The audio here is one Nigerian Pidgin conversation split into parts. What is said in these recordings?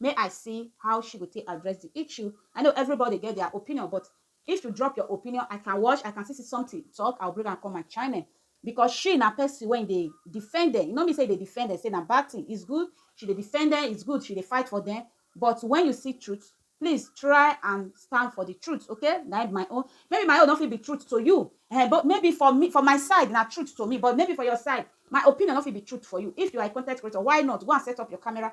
May I see how she go take address the issue, I know everybody get their opinion but if you drop your opinion I can watch I can still see something talk I will bring am come my channel because she na person wey dey defend them e no mean say e dey defend them say na bad thing it's good she dey defend them it's good she dey fight for them but when you see truth please try and stand for the truth okay na im my own maybe my own no fit be truth to you um but maybe for me for my side na truth to me but maybe for your side my opinion no fit be truth for you if you are a content creator why not go and set up your camera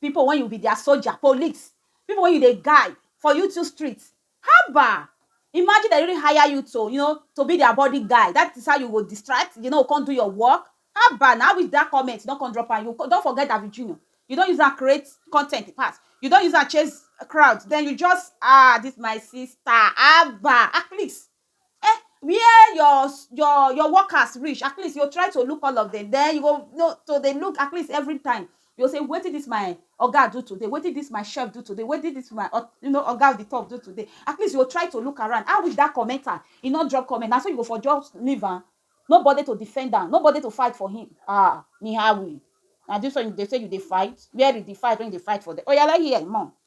People when you be their soldier, police, people when you dey guide for you two street, haba! Imagine dem really hire you to, you know, to be their body guide, that is how you go distract, you no go come do your work, haba na, I wish that comment you no come drop am, you don forget David Junior, you don use am create content pass, you don use am chase crowd, then you just, ah, this my sister, haba, ah, please, Eh where your your your workers reach at least you go try to look all of dem den you go know to dey look at least every time you go say wetin dis my oga do today wetin dis my chef do today wetin dis my you know oga of di top do today at least you go try to look around how is dat commenter e no drop comment na so you go for just leave am no body to defend am no body to fight for him um nihahawi na dis one you dey say you dey fight where is di fight wey you dey fight for there oya let hear more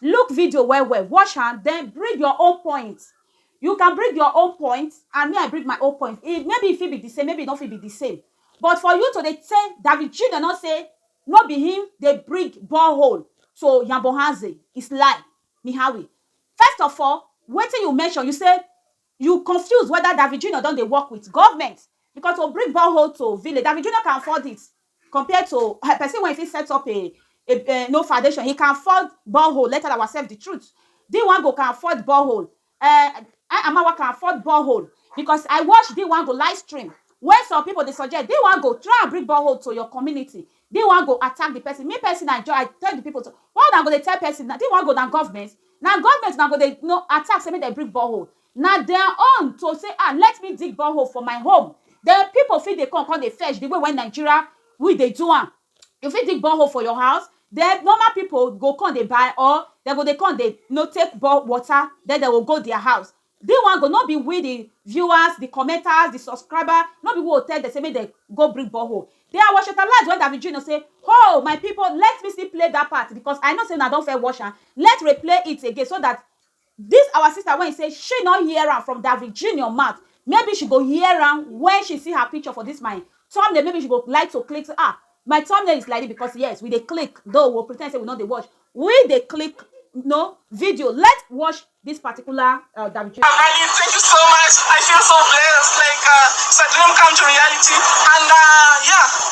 Look video well well, watch am then bring your own point. You can bring your own point and me I bring my own point. E maybe e fit be the same, maybe e no fit be the same. But for you to dey say David Junior no say no be him dey bring borehole to Yambohanze is lie. Mihawi, first of all, wetin you mention, you say you confuse whether David Junior don dey work with government because to bring borehole to village, David Junior can afford it. Compared to a pesin wey e fit set up a a a no foundation, he can ford borehole, let tell ourselves the truth. Di wan go can ford borehole, eh, I Amawa can ford borehole because I watch di wan go live stream wey some pipu dey suggest di wan go try and bring borehole to your community, di wan go attack di pesin. Me pesin I just I tell di pipu to why una go dey tell pesin na di wan go na government? Na government una go dey no attack sey make dem bring borehole. Na their own to say ah let me dig borehole for my home then people fit dey come come dey fetch the way wey Nigeria we dey do am you fit dig borehole for your house then normal people go come dey buy or dem go dey come dey you know take bore water then dem go go their house this one go no be we the viewers the commenters the subscribers no be we go tell dem say make dem go bring borehole then I was tantalized when Davy Junior say hoo my people let me still play that part because I know say una don first watch am let's replay it again so that This our sister wey say she no hear am from David Junior mouth maybe she go hear am when she see her picture for this my thumbnail maybe she go like to click ah my thumbnail is like this because yes we dey click though we pretend say we no dey watch we dey click no video let's watch this particular uh, David Junior. Abani, thank you so much. I feel so blessed. Like uh, it's a dream come to reality, and uh, yeah.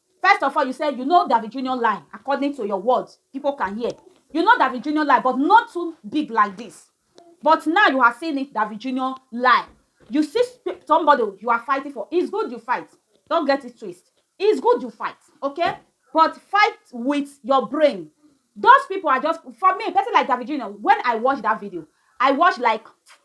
First of all you say you know David Junior lie according to your words people can hear you know David Junior lie but not too big like this but now you are seeing it David Junior lie you see somebody you are fighting for it's good you fight don't get it twist it's good you fight okay but fight with your brain those people are just for me person like David Junior when I watch that video I watch like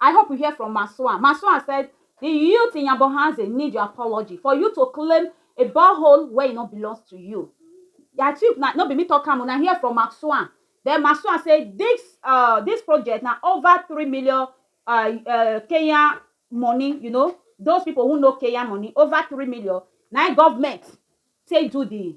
I hope we hear from Masuan. Masuan said, the youth in Yambohanze need your apology for you to claim a borehole where it e not belongs to you. I think na, no be me talk am, una hear from Masuan. Then Masuan say this uh, this project now over three million uh, uh, Kenyan money, you know, those people who know Kenyan money, over three million. Now government say do the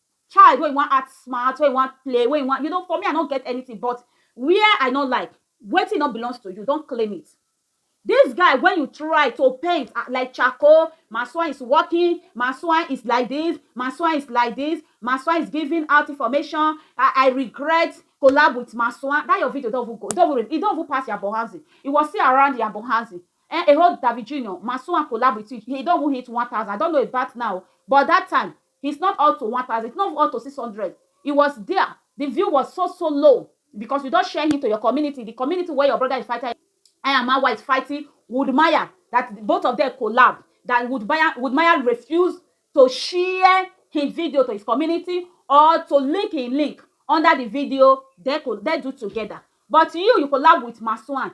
child wey wan act smart, wey wan play, wey wan, you know, for me I no get anything but where I no like, wetin no belongs to you, don't claim it. This guy when you try to paint ah like charcoal, Masua is working, Masua is like this, Masua is like this, Masua is giving out information, I, I regret collab with Masua, that your video don't even go, it don't even, it don't even pass Yabo Hanzi, it was still around Yabo Hanzi, eh, a whole David Junior, Masua collab with you, he don't even hit 1000, I don't know about now, but that time, It's not up to one thousand, it's not up to six hundred, he was dia, di view was so so low because you don share him to your community, di community wey your broda is fighting I am Awa is fighting Woodmaya dat both of dem collab dat Woodmaya Woodmaya refuse to share him video to his community or to link him link under di video dem co dem do togeda but you you collab with Masuan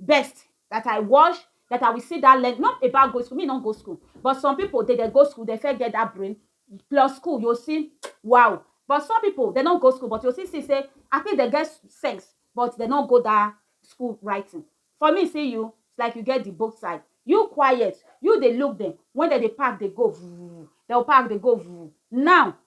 best that I wash that I will sit down learn not about go school me no go school but some people they dey go school they first get that brain plus school you see wow but some people they no go school but you see see say I think they get sense but they no go that school writing for me see you it's like you get the both side you quiet you dey look them when they dey pack dey go vuv they will pack dey go vuv now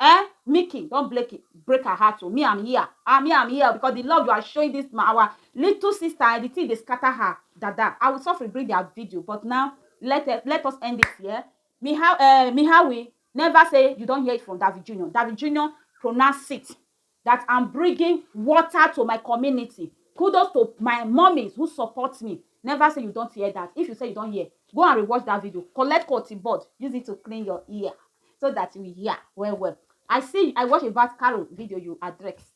Ehn Mickey don blake break her heart o me am here ah me am here o because the love you are showing this ma our little sister eh the thing dey scatter her dada I will suffering bring their video but now let eh let us end it here me how eh me how we never say you don hear it from David Junior David Junior pronounce it that am bringing water to my community kudos to my mummies who support me never say you don't hear that if you say you don't hear go and rewatch that video collect cotton bud use it to clean your ear so that you hear well well i see i watch about carol video you address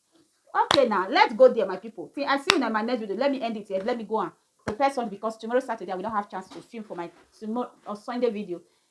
okay now let's go there my people see i see you in my next video let me end it here let me go on prepare something because tomorrow saturday i will not have chance to film for my tomorrow or sunday video